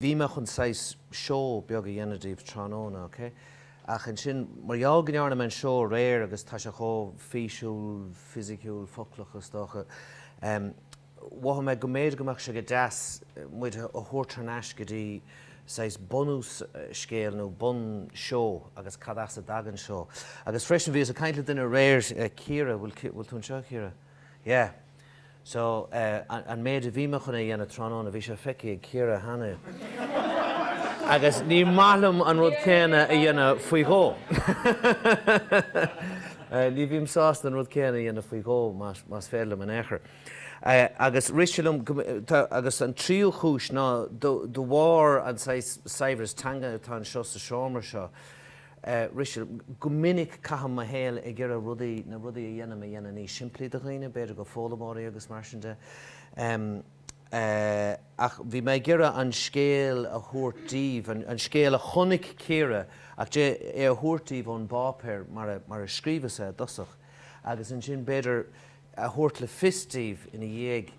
Bhí mé chun saghas seó beag a dhéanamh daoibh tráthnóna, ok? Ach ansin, mar gheall go ndearna mé an seó aréir agus tá sé chomh físiúil, fisiciúil, foclach, is dócha, em, mhothaigh mé go mb'fhéidir go mbeadh sé go deas muid a thabhairt thar n-ais go dtí saghas bunús scéil nó bun seó agus cad as a dtagann seó. Agus freisin, bhíos ag caint le duine aréir, Ciara, bhfuil, bhfuil tú anseo, Ciara? Yeah, so eh an méid a bhí mé chun a dhéanamh tráthnóna, bhí sé feicthe ag Ciara cheana agus ní maith liom an rud céanna a dhéanamh faoi dhó. Ní bhím sásta an rud céanna a dhéanamh faoi dhó más féidir liom in aon chor. Agus rith sé liom, agus an tríú chúis ná de bharr an saibhreas teanga atá anseo sa seomra seo, rith sé liom, go minic caithim mo shaol ag iarraidh rudaí, na rudaí a dhéanaim, a dhéanamh níos simplí do dhaoine, b'fhéidir go foghlaimeoirí agus mar sin de. Ach bhí mé ag iarraidh an scéal a thabhairt daoibh, an scéal a chonaic Ciara, ach é a thabhairt daoibh ón bpáipéar mar a scríobhas é i dtosach, agus ansin b'fhéidir a thabhairt le fios daoibh ina dhiaidh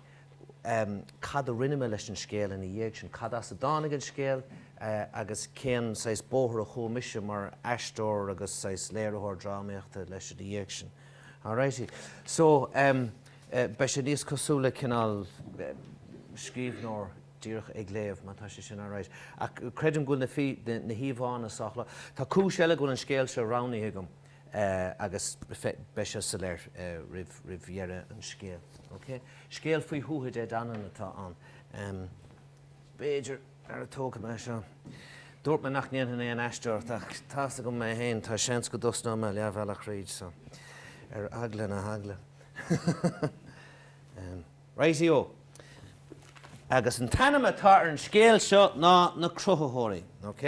cad a rinne mé leis an scéal ina dhiaidh sin, cad as a dtáinig an scéal agus cén saghas bóthar a chuaigh mise mar aisteoir agus saghas léiritheoir drámaíochta leis ina dhiaidh sin. Alrighty. So, beidh sé níos cosúil le cineál scríbhneoir díreach ag léamh, má tá sé sin alright. Ach creidim go bhfuil na híomhánna sách láidir. Tá cúis eile go bhfuil an scéal seo roghnaithe agam. agus beidh sé soiléir roimh dheireadh an scéil. Ok? Scéal faoi Thuatha Dé Danann atá ann. B'fhéidir, ara, tógfaidh mé seo. Dúirt mé nach ndéanfainn aon aisteoireacht, ach tá's agam mé féin, tá seans go dtosnóidh mé leathbhealach thríd, so, ar eagla na heagla. Righty-o! Agus an t-ainm atá ar an scéal seo ná Na Cruthaitheoirí. Ok?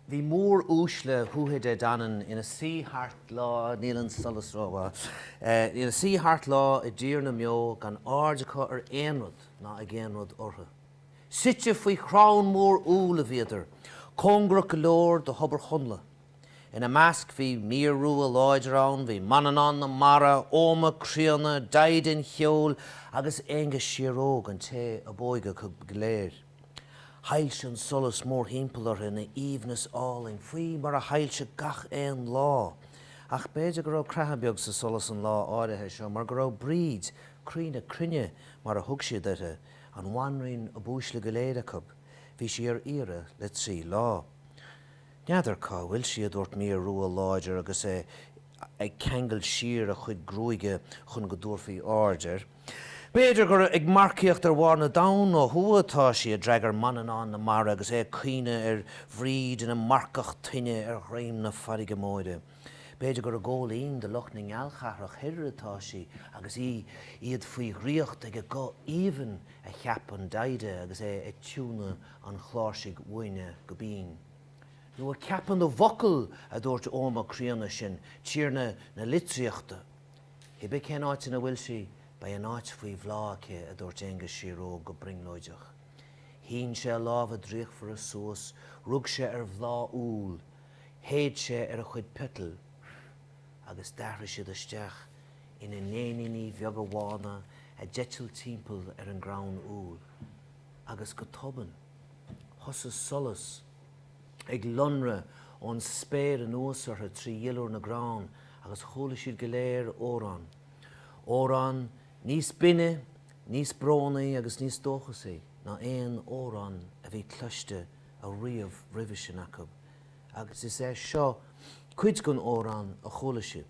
Bhí móruaisle Thuatha Dé Danann ina suí thart lá, níl an solas rómhaith, ina suí thart lá i dTír na mBeo gan aird acu ar aon rud ná ag aon rud orthu. Suite faoi chrann mór úll a bhíodar, cóngarach go leor do Thobar Chonnla. Ina measc bhí Midhir rua láidir ann, bhí Manannán na Mara, Oghma críonna, Daghda an cheoil agus Aonghas Síoróg, an té ab óige acu go léir. Shoilsigh an solas mórthimpeall orthu ina aoibhneas álainn, faoi mar a shoilsigh gach aon lá. Ach b'fhéidir go raibh creathadh beag sa solas an lá áirithe seo mar go raibh Bríd, croí na cruinne mar a thug siad uirthi, an bhanríon ab uaisle go léir acu, bhí sí ar iarraidh le trí lá. N'fheadar cá bhfuil sí, a dúirt Midhir Rua láidir agus é ag ceangal siar a chuid gruaige chun go dtabharfaí aird air. B'fhéidir gur ag marcaíocht ar bharr na dtonn ó thuaidh atá sí, a d'fhreagair Manannán na Mara agus é ag cuimhneamh ar Bhríd ina marcach toinne ar dhroim na farraige móire. B'fhéidir gur i gCóilín de lucht na nGealchathrach thoir atá sí agus í, iad faoi dhraíocht ag a guth aoibhinn, a cheap an Daghda agus é ag tiúnadh an chláirsigh uaine go binn. Nó ag ceapadh na bhfocal, a dúirt Oghma críonna sin, tiarna na litríochta. Cibé cén áit ina bhfuil sí, beidh an áit faoi bhláth aici, a dúirt Aonghus Síor-Óg go brionglóideach. Shín sé a lámha draíochtmhara suas, rug sé ar bhláth úill, shéid sé ar a chuid peitil agus d'athraigh siad isteach ina n-éiníní bheaga bhána a d'eitil timpeall ar an gcrann úll. agus go tobann, thosaigh solas ag lonradh ón spéir anuas orthu trí dhuilliúr na gcrann agus chuala siad go léir amhrán, amhrán níos binne, níos brónaí agus níos dóchasaí ná aon amhrán a bhí cloiste ariamh roimhe sin acu, agus is é seo cuid den amhrán a chuala siad.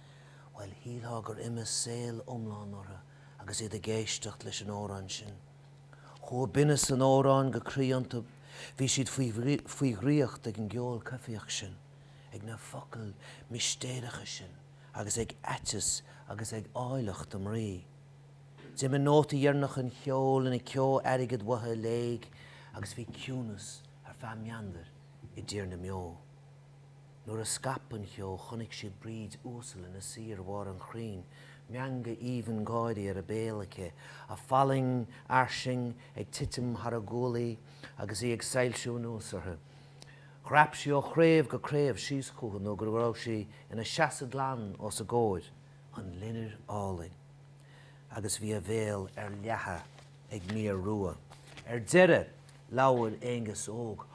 Bhuel, shíltheá gur imigh saol iomlán orthu agus iad ag éisteacht leis an amhrán sin. Chuaigh binneas an amhráin go croí iontu, bhí siad faoi dhraíocht ag an gceol coimhthíoch sin, ag na focail mistéireacha sin agus ag aiteas agus ag áilleacht a mbrí. D'imigh nóta deireanach an cheoil ina ceo airgid uathu i léig agus bhí ciúnas ar feadh meandair i dtír na mbeo. Nuair a scaip an cheo chonaic siad Bríd uasal ina suí ar bharr an chrainn, meangadh aoibhinn gáirí ar a béal aici, a fallaing fhairsing ag titim thar a guaillí agus í ag soilsiú anuas orthu. Dhreap sí ó chraobh go craobh síos chucu nó go raibh sí ina seasamh glan os a gcomhair, an loinnir álainn, agus bhí a bhéal ar leathadh. ag Midhir Rua. Ar deireadh, labhair Aonghus Óg,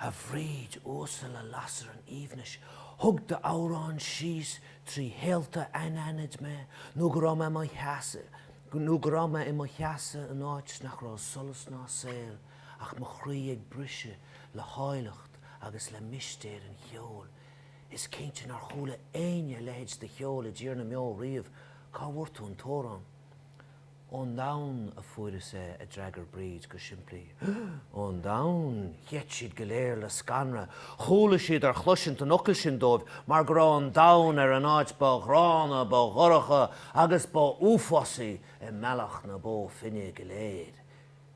a Bhríd uasal, a lasair an aoibhnis, thug d'amhrán síos trí shaolta anaithnid mé nó go raibh mé, nó go raibh mé i mo sheasamh in áit nach raibh solas ná saol ach mo chroí ag briseadh le háilleacht agus le mistéir an cheoil. Is cinnte nár chuala éinne a leithéid de cheol i dTír na mBeo riamh, cá bhfuair tú an t-amhrán? Ón ndomhan a fuaireas é, a d'fhreagair Bríd go simplí. Ón ndomhan! Gheit siad go léir le scanradh. Chuala siad ar chloisint an fhocail sin dóibh mar go raibh an domhan ar an áit ba ghránna, ba dhorcha agus ba uafásaí i mBealach na Bó Finne go léir.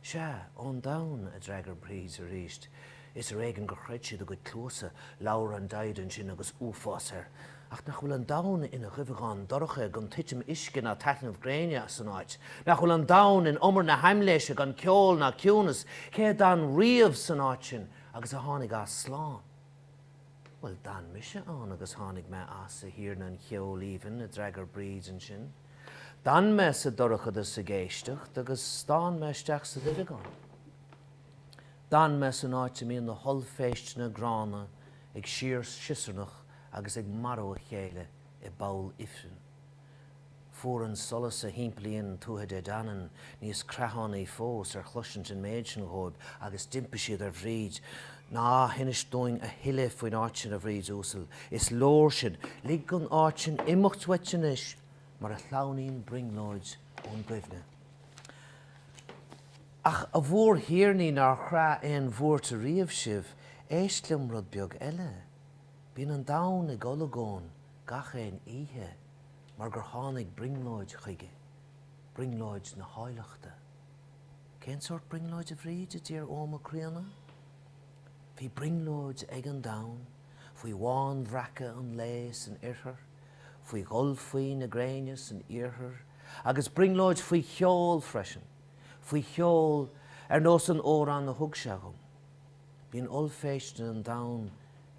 Sea, ón domhan, a d'fhreagair Bríd arís. Is ar éigin gur chreid siad a gcuid cluasa, labhair an Daghdha ansin agus uafás air. Ach nach bhfuil an domhan ina dhuibheagán dorcha gan titim uisce ná taitneamh gréine san áit? Nach bhfuil an domhan in umar na haimléise gan ceol ná ciúnas? Cé a d'fhan riamh san áit sin agus a tháinig as slán? Bhuel, d'fhan mise ann agus tháinig mé as, a Thiarna an Cheoil Aoibhinn, a d'fhreagair Bríd ansin. D'fhan mé sa dorchadas ag éisteacht agus stán mé isteach sa duibheagán. D'fhan mé san áit a mbíonn na hollphéisteanna gránna ag síor-siosarnach agus ag marú a chéile i bpoll ifrinn. Fuair an solas a thimpeallaíonn an Tuatha Dé Danann níos creathánaí fós ar chloisint an méid sin dhóibh agus d'impigh siad ar Bhríd Ná hinis dúinn a thuilleadh faoin áit sin, a Bhríd Uasail. Is leor sin. Lig an áit sin imeacht uait anois mar a shleamhnaíonn brionglóid ón gcuimhne. Ach, a mhórthiarnaí nár chraith aon bhuairt ariamh sibh, éist liom rud beag eile. Bíonn an domhan ag olagón gach aon oíche mar gur tháinig brionglóid chuige, brionglóid na háilleachta. Cén sórt brionglóid, a Bhríd? a d'iarr Oghma críonna. Bhí brionglóid ag an domhan faoi bhánbhreacadh an lae san oirthear, faoi dhul faoi na gréine san iarthar, agus brionglóid faoi cheol freisin, faoi cheol ar nós an amhráin a thug sé agam. Bíonn ollphéist an domhan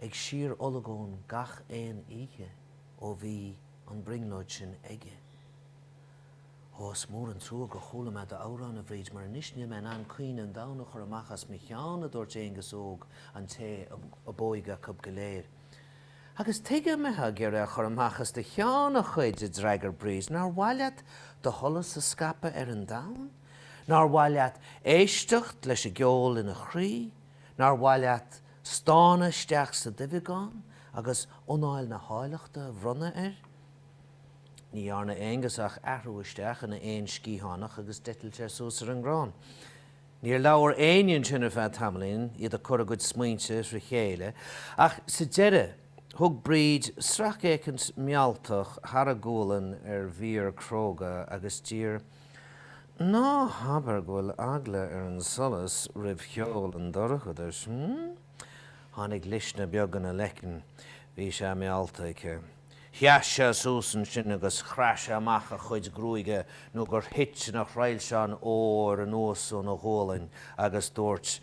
ag síor-olagón gach aon oíche ó bhí an brionglóid sin aige. Ó, is mór an trua gur chuala mé d'amhrán, a Bhríd, mar anois níl mé in ann caoineadh an domhain a chur amach as mo cheann, a dúirt Aengus Óg, an té ab óige acu go léir. Agus tuige a mbeitheá ag iarraidh a chur amach as do cheann, a chuid? a d'fhreagair Bríd. Nár mhaith leat do sholas a scaipeadh ar an domhan? Nár mhaith leat éisteacht leis an gceol ina chroí? Nár mhaith leat stánadh isteach sa duibheagán agus anáil na háilleachta a bhronnadh air? Ní dhearna Aengus ach athrú isteach ina éan sciathánach agus d'eitilt sé suas ar an gcrann. Níor labhair éinne ansin ar feadh tamaillín, iad ag cur a gcuid smaointe thrí chéile, ach sa deireadh thug Bríd sracfhéacaint mealltach thar a gualainn ar Mhidir cróga agus d'iarr, Ná habair go bhfuil eagla ar an solas roimh cheol an dorchadais, mh? Tháinig luisne beag ina leiceann. Bhí sé meallta aici. Sheas sé suas ansin agus chraith sé amach a chuid gruaige nó gur thit ina thrilseáin óir anuas óna ghualainn agus dúirt,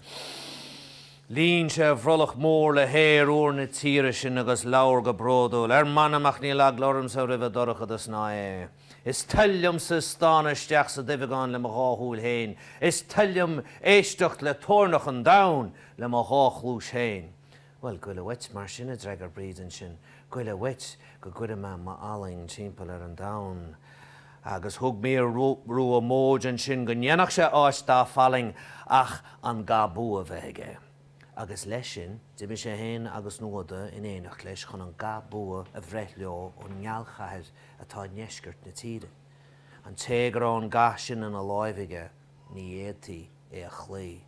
líon sé a bhrollach mór le haer úr na tíre sin agus labhair go bródúil, Ar m'anam ach níl eagla ormsa roimh an dorchadas ná é. Is toil liomsa stánadh isteach sa duibheagán le mo dhá shúil féin, is toil liom éisteacht le toirneach an domhain le mo dhá chluais féin. Bhuel, gabh i leith uait, mar sin, a d'fhreagair Bríd ansin, gabh i leith uait, go gcuire mé m'fhallaing timpeall ar an domhan. Agus thug mír rua móid ansin go ndéanfadh sé áit dá fallaing ach an ga bua bheith aige. Agus leis sin, d'imigh sé féin agus Nuada in éineacht leis chun an ga bua a bhreith leo ón ngealchathair atá i ndeisceart na tíre. An té go raibh an ga sin ina láimh aige, Ní fhéadfaí é a chloí.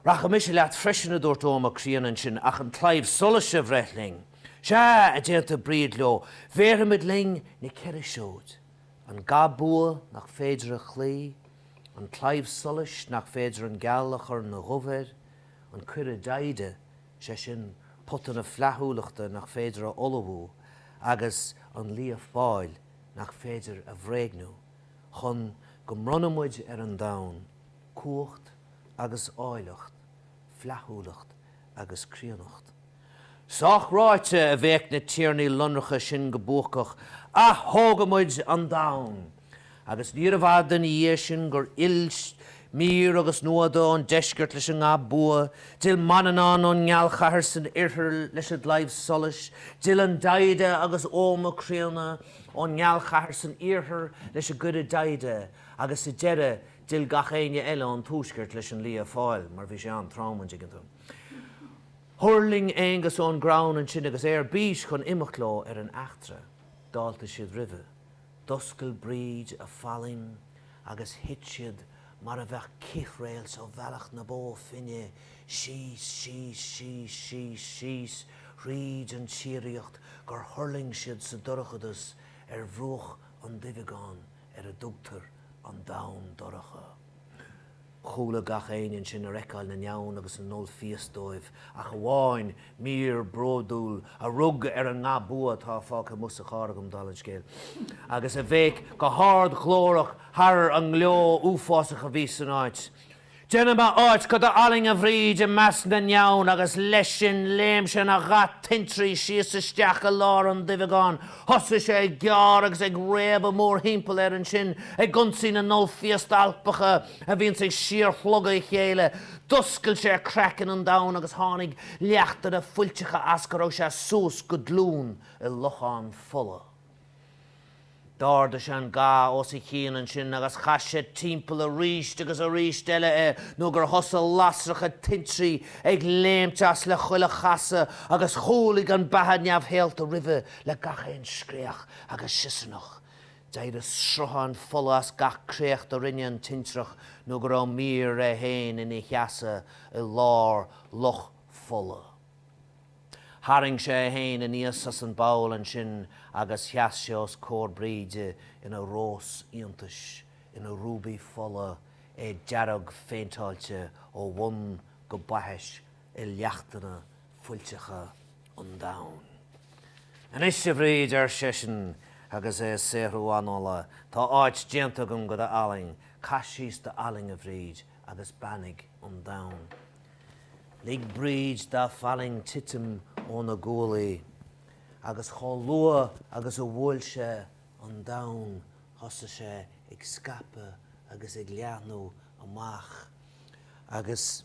'Rachaidh mise leat freisin, a dúirt Oghma críonna ansin, 'ach an claíomh solais a bhreith linn. 'Sea! a d'aontaigh Bríd leo, 'bhéarfaimid linn na ceithre seoid, an ga bua nach féidir a chloí, an claíomh solais nach féidir an geal a chur ina dhubh air, an coire Daghda, sé sin, pota na flaithiúlachta nach féidir a fholmhú, agus an lia fáil nach féidir a bhréagnú. chun go mbronna muid ar an domhan cumhacht agus áilleacht, flaithiúlacht agus críonnacht. Sách ráite, a bhéic na tiarnaí lonracha sin go buacach, atógfaidh muid an domhan! Agus níorbh fhada ina dhiaidh sin gur fhill Mír agus Nuada ón deisceart leis an nga bua, d'fhill Manannán ón ngealchathair san oirthear leis an gclaíomh solais, d'fhill an Daghda agus Oghma críonna, ón ngealchathair san iarthar leis an gcoire Daghda agus sa deireadh d'fhill gach éinne eile ón tuaisceart leis an Lia Fáil mar bhí sé an-trom go deo. Thuirling Aengus ón gcrann ansin agus é ar bís chun imeacht leo ar an eachtra. D'fháiltigh siad roimhe, d'oscail Bríd a fallaing agus thit siad mar a bheadh cith réalt ó Bhealach na Bó Finne, síos, síos, síos, síos, síos thríd an tsíoraíocht gur thuirling siad sa dorchadas ar bhruach an duibheagáin ar a dtugtar an Domhan Dorcha. Chúlaigh gach éinne ansin ar fheiceáil na ndeamhan agus na n-ollphiast dóibh ach amháin Mír bródúil a rug ar an nga bua atá fágtha amuigh sa charr agam, dála an scéil, agus a bhéic go hardghlórach thar an ngleo uafásach a bhí san áit, Déanaimis áit do do fhallaing, a Bhríd, i measc na ndeamhan! Agus leis sin, léim sé ina gha tintrí síos isteach i lár an duibheagáin. Thosaigh sé ag gearradh agus ag réabadh mórthimpeall air ansin, ag ionsaí na n-ollphiast alpacha, a bhíonns ag síorshlogadh a chéile, d'oscail sé craiceann an domhain agus tháinig leachtanna fuilteacha as go raibh sé suas go glúin i lochán fola. D'ardaigh sé an ga os a chionn ansin agus chaith sé timpeall arís agus arís eile é nó gur thosaigh lasracha tintrí ag léimt as le chuile chasadh agus chúlaigh an bheatha neamhshaolta roimhe le gach aon scréach agus siosarnach D'éirigh sruthán fola as gach créacht a rinne an tintreach nó go raibh Mír é féin ina sheasamh i lár loch fola. Tharraing sé é féin aníos as an bpoll ansin agus sheas sé os comhair Bríde ina rós iontais, ina rúbaí fola, é dearg-phéinteáilte ó bhun go baithis i leachtanna fuilteacha an domhain. Anois, a Bhríd, ar seisean, agus é ag saothrú anála, tá áit déanta agam do do fhallaing, caith síos do fhallaing, a Bhríd, agus beannaigh an domhan. Lig Bríd dá fallaing titim óna guaillí, agus chomh luath agus a bhuail sé an domhan thosaigh sé ag scaipeadh agus ag leathnú amach, agus.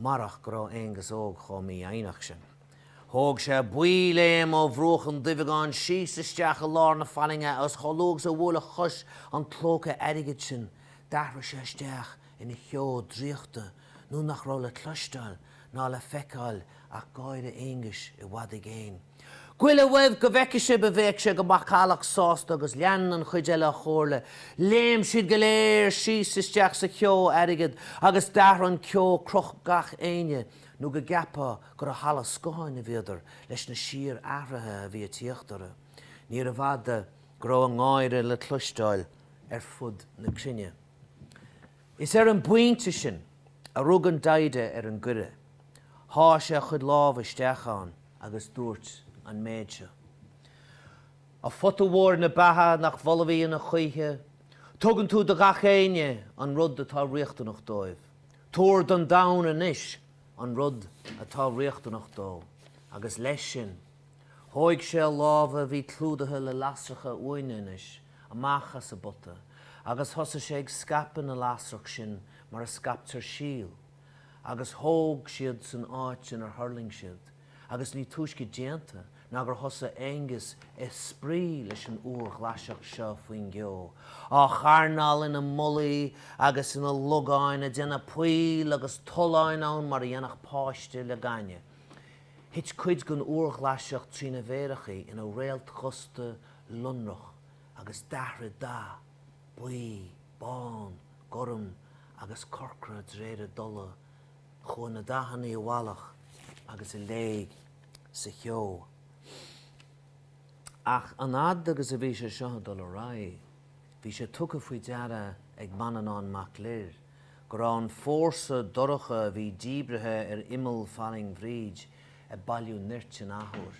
marach go raibh Aengus Óg chomh mífhoighneach sin. Thóg sé baothléim ó bhruach an duibheagáin síos isteach i lár na fallainge agus chomh luath agus a bhuail a chos an clóca airgid sin, d'athraigh sé isteach ina cheo draíochta nó nach raibh le cloisteáil ná le feiceáil ach gáire Aenguis i bhfad i gcéin. Gabhaigí i leith uaibh go bhfeicfidh sibh a bhéic sé go macallach sásta agus lean an chuid eile a chomhairle. Léim siad go léir síos isteach sa cheo airgid agus d'athraigh an ceo cruth gach éinne nó go gceapfá gur i halla scátháin a bhíodar leis na síorathruithe a bhí a tíocht orthu. Níorbh fhada go raibh a ngáire le cloisteáil ar fud na cruinne. Is ar an bpointe sin a rug an Daghda ar an gcoire. Sháigh sé a chuid lámh isteach ann agus dúirt an méid seo. A phota mhóir na beatha nach bhfolmhaíonn choíche, tugann tú do gach éinne an rud atá riachtanach dóibh. Tabhair don domhan anois an rud atá riachtanach dó. Agus leis sin, thóig sé a lámha a bhí clúdaithe le lasracha uaine anois, amach as an bpota agus thosaigh sé ag scaipeadh na lasrach sin mar a scaiptear síol, agus thóg siad san áit inar thuirling siad, agus ní túisce déanta ná gur thosaigh Aengus a' spraoi leis an úrghlaiseacht seo faoin gceo, á charnáil ina mullaí agus ina logáin, a' déanamh poill agus tolláin ann mar a dhéanfadh páiste le gaineamh. Thit cuid den úrghlaiseacht trína mhéarachaí ina réaltdhusta lonrach agus d'athraigh dath, buí, bán, gorm agus corcra d'réir a dtola, chuaigh na dathannaí i bhfalach agus i léig sa cheo. Ach an fhad agus a bhí sé seo ag dul ar aghaidh, bhí sé tugtha faoi deara ag Manannán Mac Lir go raibh an fórsa dorcha a bhí díbrithe ar imeall fallaing Bhríd ag bailiú nirt in athuair.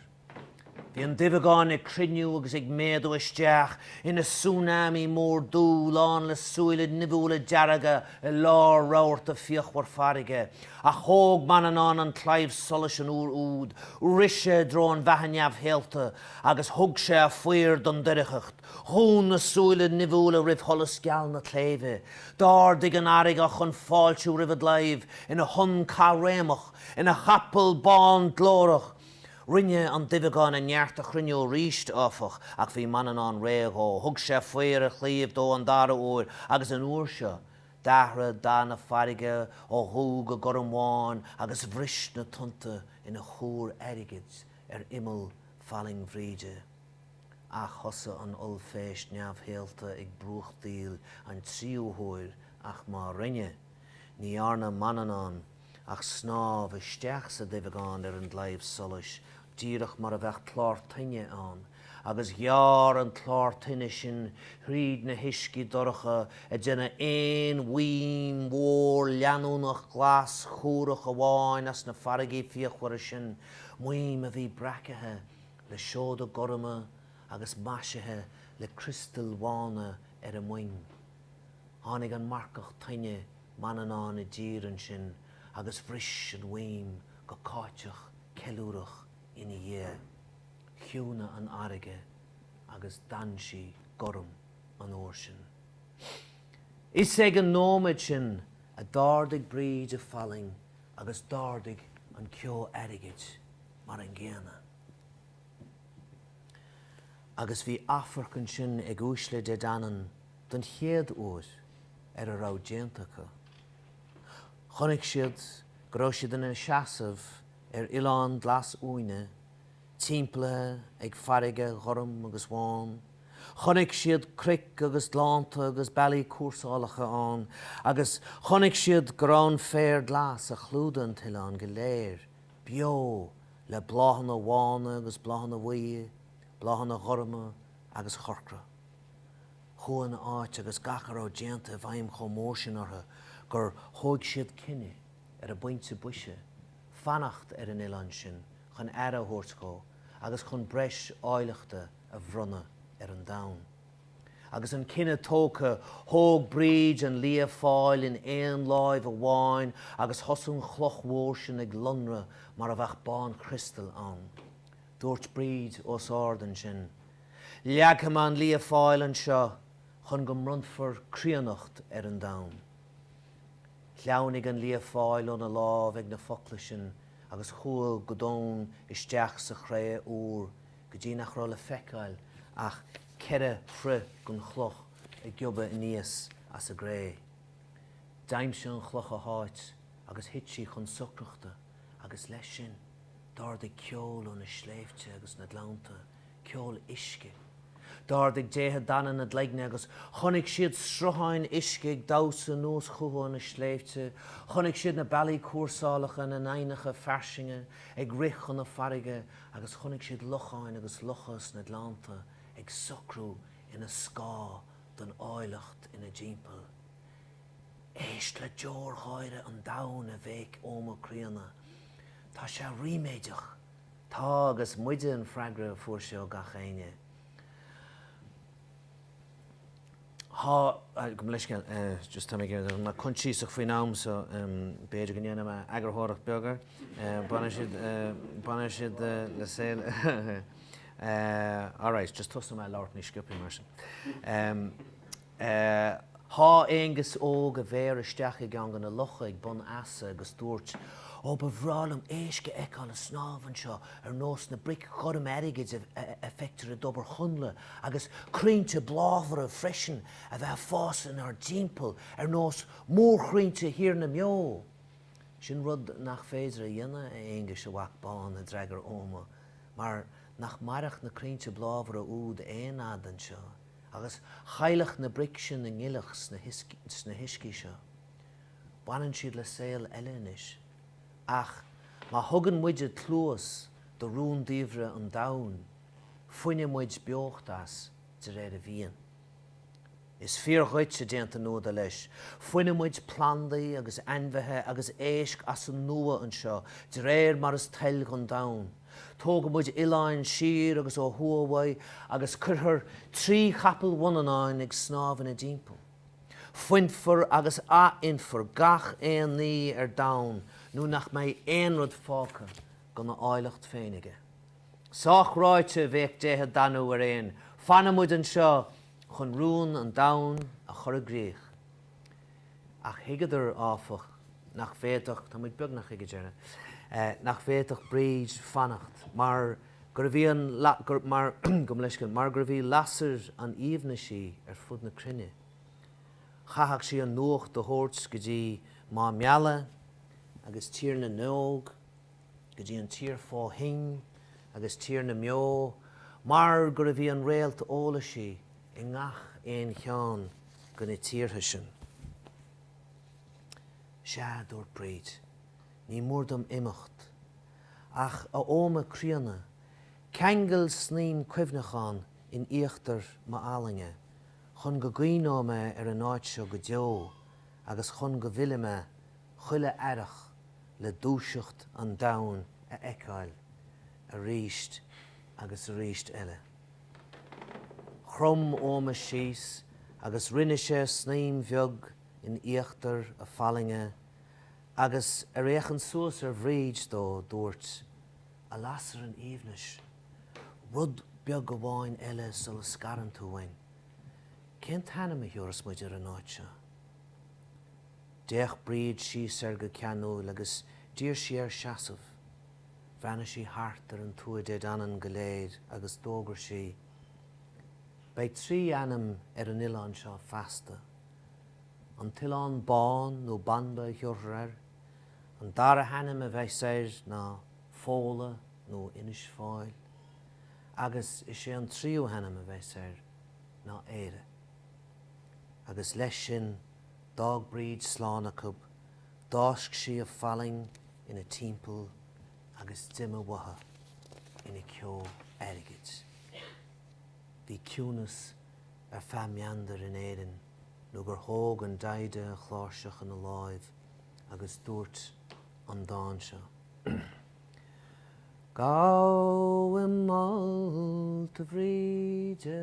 Bhí an duibheagán ag cruinniú agus ag méadú isteach ina tsunami mór dubh, lán le súile nimhiúla dearga i lár rabharta fíochmhar farraige. Ach thóg Manannán an claíomh solais an uair úd, rith sé i dtreo an bheathaigh neamhshaolta, agus thug sé a faobhar don doircheacht. Dhún na súile nimhiúla roimh sholas geal na claímhe. D'ardaigh an fharraige chun fáiltiú roimh an gclaíomh, ina thonn caithréimeach, ina chapall bán glórach, Rinne an duibheagán a neart a chruinniú arís, áfach, ach bhí Manannán réidh dhó. Thug sé faobhar a chlaímh dó an dara uair, agus an uair seo, d'athraigh dath na farraige ó dhubh go gormbhán agus bhris na tonnta ina chúr airgid ar imeall fallaing Bhríde. Ach thosaigh an ollphéist neamhshaolta ag brúchtaíl an tríú huair, ach má rinne, ní dhearna Manannán, ach snámh isteach sa duibheagán ar an gclaíomh solais díreach mar a bheadh clár toinne ann, agus ghearr an clár toinne sin thríd na huiscí dorcha ag déanamh aon mhaidhm mhór leanúnach glas chúrach amháin as na farraigí fíochmhara sin, maidhm a bhí breacaithe le seoda gorma agus maisithe le criostail bhána ar a muin. Tháinig an marcach toinne Manannán i dtír ansin agus bhris an mhaidhm go cáiteach ceiliúrach ina dhiaidh. Chiúnaigh an fharraige agus d'fhan sí gorm an uair sin. Is ag an nóiméad sin a d'ardaigh Bríd a fallaing agus d'ardaigh an ceo airgid mar an gcéanna. Agus bhí afarc ansin ag uaisle Dé Danann. don chéad uair ar a raibh déanta acu. Chonaic siad go raibh siad ina seasamh ar oileán glas uaine, timpeallaithe ag farraige ghorm agus bhán. Chonaic siad cnoic agus gleannta agus bealaí cúrsálacha ann, agus chonaic siad go raibh an féar glas a chlúdaigh an t-oileán go léir beo le bláthanna bhána agus bláthanna bhuí, bláthanna gorma agus chorcra. Chuaigh an áit agus gach a raibh déanta i bhfeidhm chomh mór sin orthu gur thóig siad cinneadh, ar an bpointe boise, fanacht ar an oileán sin chun aire a thabhairt dhó agus chun breis áilleachta a bhronnadh ar an domhan. Agus an cinneadh tógtha, thóg Bríd an Lia Fáil in aon láimh amháin agus thosaigh an chloch mhór sin ag lonradh mar a bheadh bánchriostal ann. Dúirt Bríd os ard ansin, Leagfaidh mé an Lia Fáil anseo chun go mbronnfar críonnacht ar an domhan. Shleamhnaigh an Lia Fáil óna lámh ag na focla sin agus chuaigh go domhain isteach sa chré úr go dtí nach raibh le feiceáil ach ceithre throigh den chloch ag giobadh aníos as an gcré. D'aimsigh an chloch a háit agus thit sí chun socrachta. agus leis sin, d'ardaigh ceol ó na sléibhte agus na gleannta, ceol uisce. D'ardaigh déithe Dana a gcloigne agus chonaic siad srutháin uisce ag damhsa anuas chucu ó na sléibhte, chonaic siad na bealaí cúrsála ina n-aibhneacha fairsinge ag rith chun na farraige agus chonaic siad locháin agus locha sna gleannta ag socrú ina scáth don áilleacht ina dtimpeall. Éist le deoirgháire an domhain, a bhéic Oghma Críonna. Tá sé ríméideach! Tá agus muide, an freagra a fuair sé ó gach éinne. Tá, gabh mo leithscéal, just tá mé coinsiasach faoin am so b'fhéidir go ndéanfaidh mé eagarthóireacht beag air. Baineann siad le saol Alright, just tosóidh mé ag labhairt níos sciopthaí mar sin. é. Sháith Aengus Óg a mhéar isteach i gceann de na locha ag bun easa agus dúirt, Ó, ba bhreá liom éisc a fheiceáil ag snámh anseo ar nós na mbric ghorm airgid a feictear i dtobar Chonnla, agus crainnte bláfara freisin a bheith ag fás inár dtimpeall ar nós mórchrainnte Thír na mBeo! Sin rud nach féidir a dhéanamh, a Aonghuis, a mhac bán, a d'fhreagair Oghma, mar nach mairfeadh na crainnte bláfara úd aon fhad anseo. Agus chaillfeadh na bric sin a ngile sna huiscí seo. Baineann siad le saol eile anois. Ach má thugann muide cluas do rúndiamhra an domhain, fuineadh muid beocht as, de réir a mhian. Is fíor dhuit, a d'aontaigh Nuada, leis. Fuineadh muid plandaí agus ainmhithe agus éisc as an nua anseo, de réir mar is toil dhon domhan. Tógfaidh muid oileáin siar agus ó thuaidh uaidh agus cuirfear trí chapall Mhanannáin ag snámh ina dtimpeall. Fuinfear agus athfhuinfear gach aon ní ar domhan nó nach mbeidh aon rud fágtha gona áilleacht féin aige. Sách ráite, bhéic déithe Danu ar aon, fanfaidh muid anseo chun rún an domhain a chur i gcrích. Ach thuigeadar, áfach, nach bhféadfadh, tá muid beagnach ag an deireadh, nach bhféadfadh Bríd fanacht mar gurbh í an, mar, gabh mo leithscéal, mar gurbh í lasair an aoibhnis í ar fud na cruinne. Chaithfeadh sí an nuacht a thabhairt go dtí Máigh Meala agus Tír na nÓg, go dtí an Tír fó Thoinn agus Tír na mBeo, mar gurbh í an réalt eolais í i ngach aon cheann de na tíortha sin. Sea, dúirt Bríd, ní mór dom imeacht. Ach, a Oghma críonna, ceangail snaidhm cuimhneachán in íochtar m'fhallainge chun go gcuimhneoidh mé ar an áit seo go deo agus chun go bhfillfidh mé chuile earrach le dúiseacht an domhain a fheiceáil aríst agus aríst eile. Chrom Oghma síos agus rinne sé snaidhm bheag in íochtar a fallainge agus ar fhéachaint suas ar Bhríd dó, dúirt. A lasair an aoibhnis, rud beag amháin eile sula scarann tú uainn. Cén t-ainm a thiubhras muid ar an áit seo? D'fhéach Bríd síos air go ceanúil agus d'iarr sí air seasamh. Bhreathnaigh sí thart ar an Tuath Dé Danann go léir agus d'fhógair sí, Beidh trí ainm ar an oileán seo feasta, An tOileán Bán nó Banba a thiubhrfar air, an dara hainm a bheas air ná Fódhla nó Inis Fáil, agus is é an tríú hainm a bheas air ná Éire. Agus leis sin D'fhág Bríd slán acub, d'fháisc sí a fallaing ina timpeall agus d'imigh uathu ina ceo airgid. Bhí ciúnas ar feadh meandair in Éirinn nó gur thóg an Daghda a chláirseach ina láimh agus dúirt an dán seo, Gabhaim molta, a Bhríde,